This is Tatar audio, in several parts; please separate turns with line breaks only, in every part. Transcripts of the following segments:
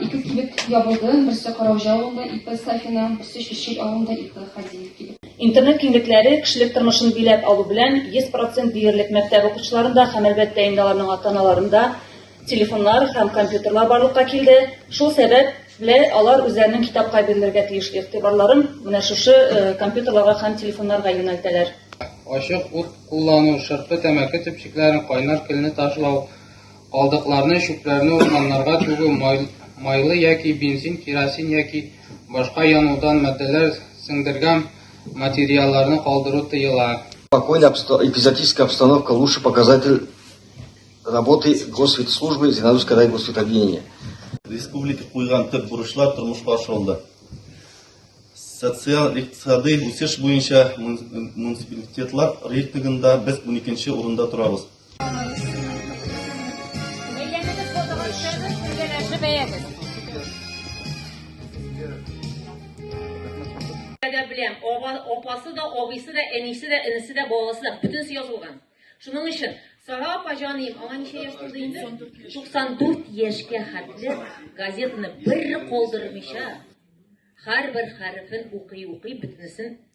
Ике кибет ябылды, берсе Караужа авылында, ике Сафина, берсе Чүчил авылында, ике Хади кибет. Интернет киңлекләре
кешелек тормышын биләп алу белән 100% диярлек мәктәп укучыларында һәм әлбәттә инде аларның ата-аналарында телефоннар һәм компьютерлар барлыкка килде. Шул сәбәп белән алар үзләренең китапка бирелергә тиеш игътибарларын менә шушы э, компьютерларга һәм телефоннарга юнәлтәләр. Ачык
ут куллану, шырпы, тәмәке төпчекләрен, кайнар көлне ташлау, Калдыкларны, чүпләрне урманнарга түгү, майлы яки бензин, керосин яки башка янудан матдәләр сеңдергән материалларны калдыру тыела. Спокойная обсто...
эпизодическая обстановка – лучший показатель работы Госветслужбы Зинаровского райгосветобъединения. Республика
куйган төп бурычлар тормышка ашырылды. Социаль-икътисадый үсеш буенча муниципалитетлар рейтингында без 12 урында торабыз.
белән оба, опасы да, абыйсы да, әнисе дә, энесе дә, баласы да, бөтенесе язылган. Шуның өчен Сара апа җаныем, аңа ничә яшь тулды инде? 94 яшькә хәтле газетаны бер калдырмыйча, һәрбер хәрефен укый-укый бөтенесен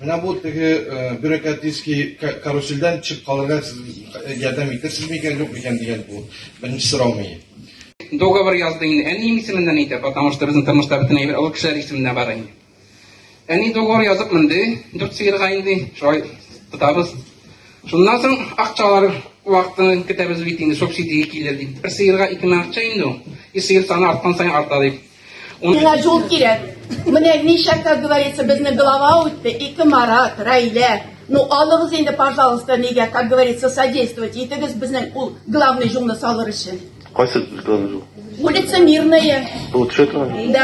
Менә бу теге бюрократический карусельдән төшеп калырга сез ярдәм итерсез микән, юк микән дигән бу беренче сорау мени. Договор
язды инде. Әнием исеменнән әйтә, потому что безнең тормышта бөтен әйбер олы кешеләр исеменә бара инде. Әни договор язып менде, дүрт сыерга инде, шулай тотабыз. Шуннан соң акчалар вакытын көтәбез бит инде, субсидия килер дип. Бер сыерга ике мең акча инде ул. И сыер саны арткан саен арта дип. Миңа җул
кирәк. Менә ничә, как говорится, безнең глава үтте, ике Марат, Райлә. Ну, алыгыз инде, пожалуйста, нигә, как говорится, содействовать итегез безнең ул главный җулны салыр өчен.
Кайсы
главный жол?
Улица
Мирная. Бу
төшә
торган? Да.